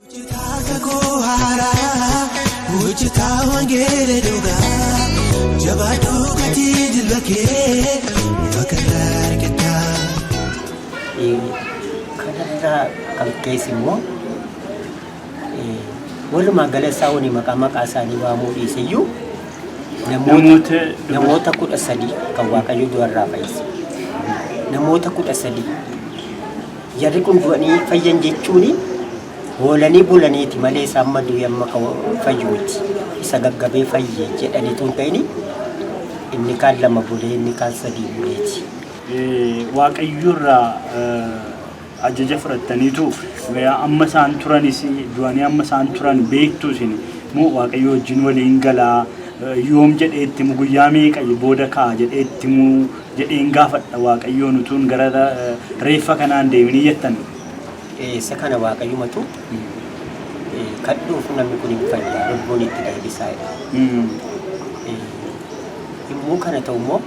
Hojjetaa kakuu haaraa, hojjetaa wangeela dhugaa, jabaadhuu gatii jilba kee bakka irraa argatta. kanarraa kan keessa immoo walumaa gala isaa wani maqaa maqaa isaanii waamuu dhiise iyyuu namoota namoota kudha sadii kan waaqayyo du'arraa fayyise namoota kudha sadii Jarri kun du'anii fayyan jechuun hoolanii bulaniiti malee isa amma du'e amma kan fayyu miti. Isa gaggabee fayye jedhaniitu hin ta'ini inni kaan lama bulee inni kaan sadii buleeti. Waaqayyorraa ajaja fudhattaniitu amma isaan turanis du'anii amma isaan turan beektu isin moo waaqayyo wajjin waliin galaa yoom jedhee itti himu guyyaa meeqa booda ka'a jedhee itti himu jedheen gaafadha waaqayyoon utuun gara reeffa kanaan deemin hin jettan. Isa kana waaqayyumatu kadhuuf namni kun hin fayya lubbuun itti deebisaa jedhe. Yommuu kana ta'u immoo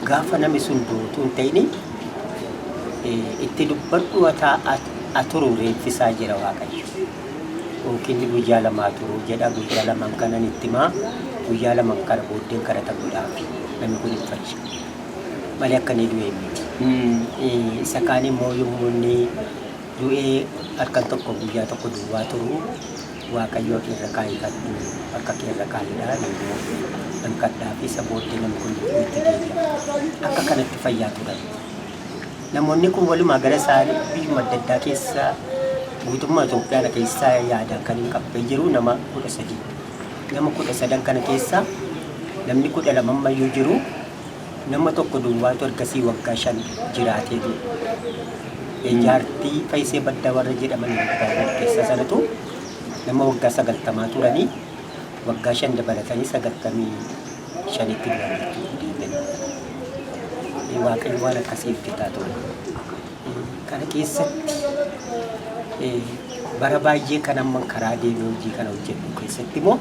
gaafa namni sun duutu hin ta'ini itti dubbadhu ataa aturuu reeffisaa jira waaqayyo. Dhunkinni guyyaa lamaa turuu jedha guyyaa laman kanan itti himaa guyyaa laman kana booddeen kadhata godhaafi namni kun hin fayyu malee akka inni du'e hin beeku. Isa kaan immoo yommuu inni du'ee halkan tokko guyyaa tokko duwwaa turu waaqayyo ati irra kaayifadhu harka kee irra kaayidha immoo nan kadhaafi isa booddee namni kun lubbuutti deebi'a akka kanatti fayyaa turan. Namoonni kun walumaa gala isaanii biyyuma adda addaa keessa guutummaa Itoophiyaana keessaa yaadaan kan hin qabban jiru nama 13. Nama 13 kana keessaa namni 12 ammayyuu jiru nama tokko duwwaatu ergasii waggaa 5 jiraatee du'e. E jaartii Fayisee Baddaa warra jedhaman Ilbaaboo keessaa sanatu nama waggaa 90 turanii waggaa 5 dabalatanii 90 shanitti du'aniiru diinonni. Waaqayyo waan akkasii hojjetaa ture. Kana keessatti bara baay'ee kan amma karaa deemee hojii kana hojjedhu keessatti immoo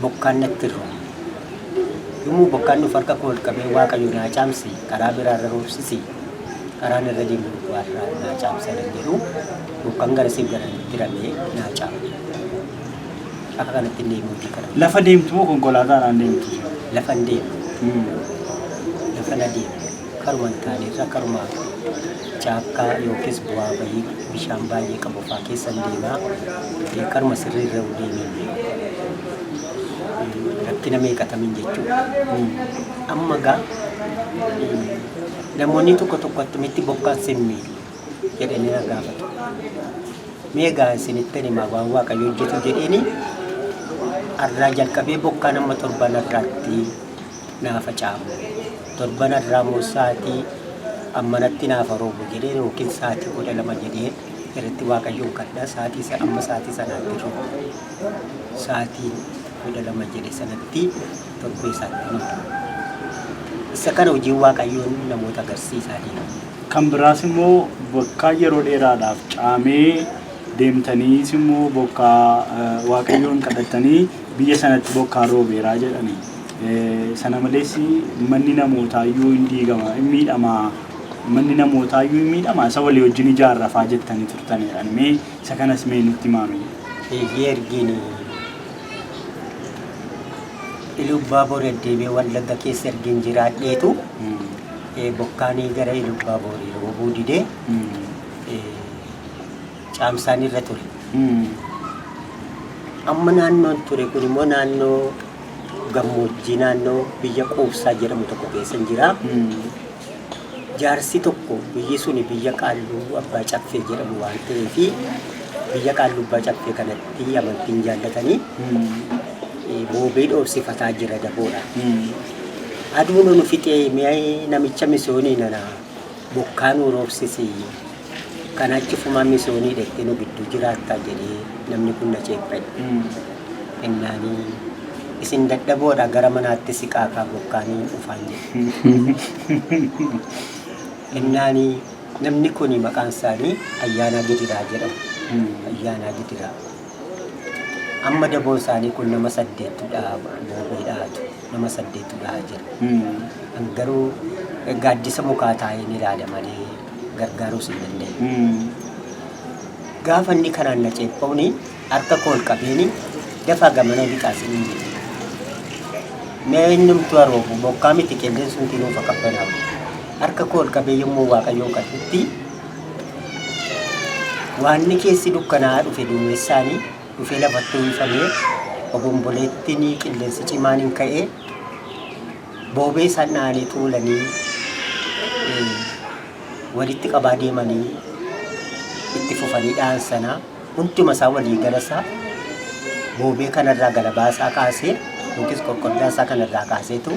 bokkaan natti hin roobne. Yommuu bokkaan dhufu harka koo ol qabee waaqayyo naa caamsi karaa biraa irra roobsisi karaan irra deemu duwwaa irraa naa caamsa jedhu bokkaan garasiif garamitti ramee naa caama. Akka kanatti hin deemuu fi kana. Lafa deemtu moo konkolaataadhaan deemti? Lafan deema. Hmm. Lafa na deema. Karuma hin taane irra karuma caakkaa yookiis bu'aa bahii bishaan baay'ee qabu fa'aa keessa hin deema. Eh, Karuma sirrii irra hin deemee hin beeku. Eh, Rakkina meeqatamin jechuudha. Hmm. Amma gaa eh, namoonni tokko tokko attamitti bokkaan sin miidhu. jedhanii na gaafatu. Mee egaa isinittan hima waan Waaqayyo hojjetu jedheeni arraa jalqabee bokkaan amma torban arraatti naa facaamu. Torban arraa immoo sa'aatii ammanatti naaf roobu jedhee yookiin sa'aatii kudha lama jedhee irratti Waaqayyoon kadhaa sa'aatii isa amma sa'aatii sanaatti roobu. Sa'aatii kudha lama jedhe sanatti torbee isaatti ni roobu. Isa kana hojiin Waaqayyoon namoota agarsiisaa deema. Kan biraas immoo bakka yeroo dheeraadhaaf caamee deemtaniis immoo bokkaa waaqayyoon kadhattanii biyya sanatti bokkaan roobeeraa jedhani. Sana malees manni namootaa iyyuu in diigama in miidhama manni namootaa iyyuu in miidhama isa walii wajjin ijaarrafaa jettanii turtan jedhan mee isa kanas mee nutti himaame. Eeyyee ergiin Iluubbaa Boorii Addeebee Wallagga keessa ergiin jiraadheetu. Bokkaanii gara Iluubbaaboorii roobuu didee caamsaan irra ture. Amma naannoon ture kun immoo naannoo gammoojjii naannoo biyya quufsaa jedhamu tokko keessa jira. Jaarsi tokko biyyi suni biyya qaalluu abbaa caffee jedhamu waan ta'eef biyya qaalluu abbaa caffee kanatti amantiin jaallatanii boobee dhoofsifataa jira daboodha. Aduunu nu fixee mi'ayi namicha misoonii nana bokkaa nuu roobsisi kana achifuma misoonii dhette nu gidduu jiraattaa jedhee namni kun na ceepha'e. Ennaani isin dadhaboodha gara manaatti siqaa kaa bokkaa niin dhufaan jedhe. Ennaani namni kun maqaan isaanii Ayyaanaa Gidiraa jedhamu. Ayyaanaa Gidiraa. Amma daboon isaanii kun nama saddeettudha boobee dhaatu. nama saddeet gahaa jira. An garuu gaaddisa mukaa taa'een ilaala malee gargaaruus hin dandeenye. Gaafa inni kanaan na ceepha'uun harka koo ol qabeen dafaa gamanoo lixaa siniin jedhe. Mee innumtuu haroofu bokkaa miti qilleensumti nuuf haa qabbanaa'u. Harka koo ol qabee yommuu waaqayyoon kadhutti waanni keessi dukkanaa'aa dhufe duumessaanii dhufee lafatti uwwifamee obomboleettiin qilleensi cimaan hin ka'ee boobee isaan dhahanii tuulanii eh, walitti qabaa deemanii itti fufanii dhahan sana hunduma isaa walii gala isaa boobee kanarraa galabaa isaa kaasee yookiis qoqqoddaa isaa kanarraa kaaseetu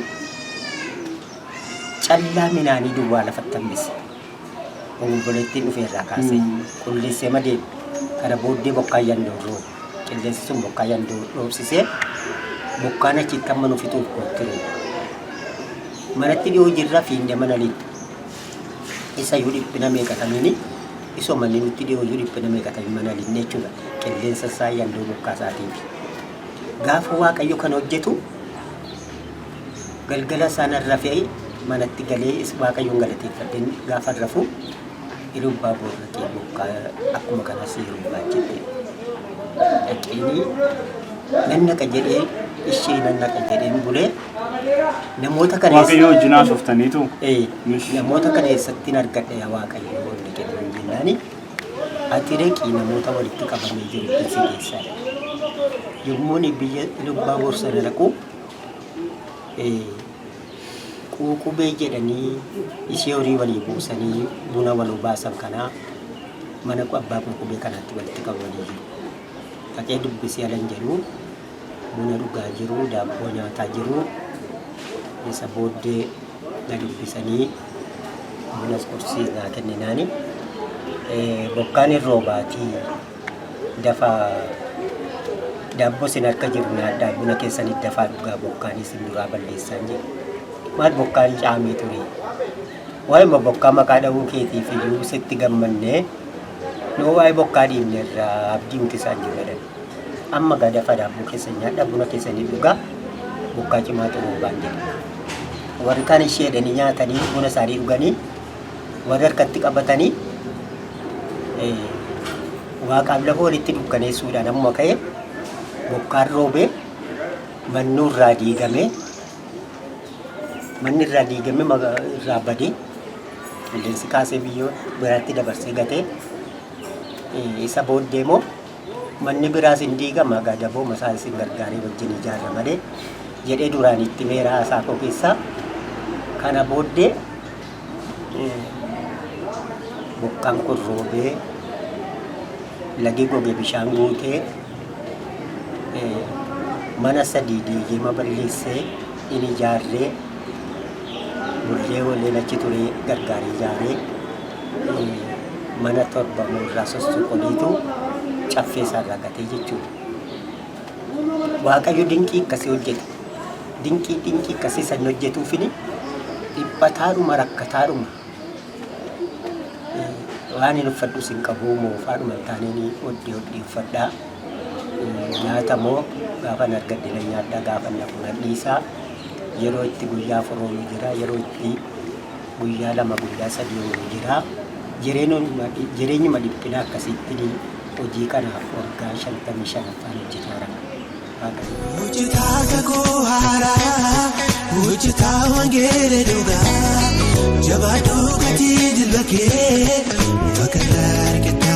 callaa minaanii duwwaa lafatti hambise. Obomboleettiin dhufe irraa kaasee qulleessee madeera. Kana booddee bokkaan yandoon roobe. Qilleensi sun bokkaa yandoo dhoobsisee bokkaan achitti amma nu fixuuf kootti roobe. Manatti dhiyoo jirra fiinnee mana lixxe. Isa iyyuu dhiphina meeqatamiini isoo manni nutti dhiyoo iyyuu dhiphina meeqatamiin mana lixne jechuudha. Qilleensa isaa yandoo bokkaa isaatiifi. Gaafa Waaqayyo kan hojjetu Galgala sanan rafe manatti galee waaqayyoon galateeffadheen gaafan rafu iluu abbaa boor dhaqee bokkaa akkuma kanas yeroo baachette dhaqeenii nan naqa jedhee ishee nan naqa jedheen bulee namoota kaneessa Waaqayyoo wajjin haasoftaniitu. Ee, Mish. namoota kana eessatti hin argadhe yaa waaqayyo wanti jedhu hin jennaani ati dhaqii namoota walitti qabamee jiru keessa keessaa dhaqi. yommuun biyya lubbaa borsana dhaqu quuqubee jedhanii ishee horii walii buusanii buna wal obaasan kanaa mana abbaa quuqubee kanaatti walitti qabamanii jiru. Dhaqee dubbisee alan jedhu buna dhugaa jiru, daabboo nyaataa jiru. Isa booddee na dubbisanii bunas qursii naa kenninaani. Bokkaan hin roobaatii. Dafaa daabboo sin harka jiru nyaadhaa buna keessanit dafaa dhugaa bokkaan isin duraa balleessaan jira. Maal bokkaan caamee turee. Waa'ima bokkaa maqaa dha'uu keetiif iyyuu sitti gammannee noo waa'ee bokkaa dhiifne irraa abdii nuti isaan jiru jedhan. Amma gaa dafaa daabboo keessan nyaadhaa buna keessanii dhugaa bokkaa cimaa xumuubaan jedhe. Warri kaan ishee jedhanii nyaatanii buna isaanii dhuganii warri harkatti qabatanii waaqaaf lafa walitti dukkaneessuudhaan ammuma ka'e bokkaan roobee mannuu irraa diigamee manni irraa diigamee maga- irraa badee qilleensi kaasee biyyoo biraatti dabarsee gatee eh, isa booddee immoo Manni biraas in diigama, egaa dabooma isaa isin gargaaree wajjin ijaarra malee jedhee duraan itti himeera haasaa koo keessaa. Kana booddee eh, bokkaan kun roobee lagi goge bishaan guutee eh, mana sadii diigee ma balleessee in ijaarree Bullee oolleen achi turee gargaaree ijaaree mana torba irraa sossoqoleetu caffee isaarraa gatee jechuudha. Waaqayyo dinqii akkasii hojjete. Dinqii dinqii akkasii san hojjetuufini dhiphataadhuma rakkataadhuma waan hin uffadhus hin qabu moofaadhuma hin taaneen hodhee hodhee uffadhaa. Nyaata moo gaafan argadhe nan nyaadhaa gaafan nafuu nan dhiisaa. Yeroo itti guyyaa afur oolu jira, yeroo itti guyyaa lama, guyyaa sadii oolu jira. Jireenyuma, jireenyuma dhiphinaa akkasiitti hojii kanaaf waggaa shantamii shanaffaan hojjetaa jira. Waaqa. Hojjetaa kakuu haaraa, hojjetaa wangeela dhugaa, jabaadhu gatii jilba kee, waaqa irraa argatta.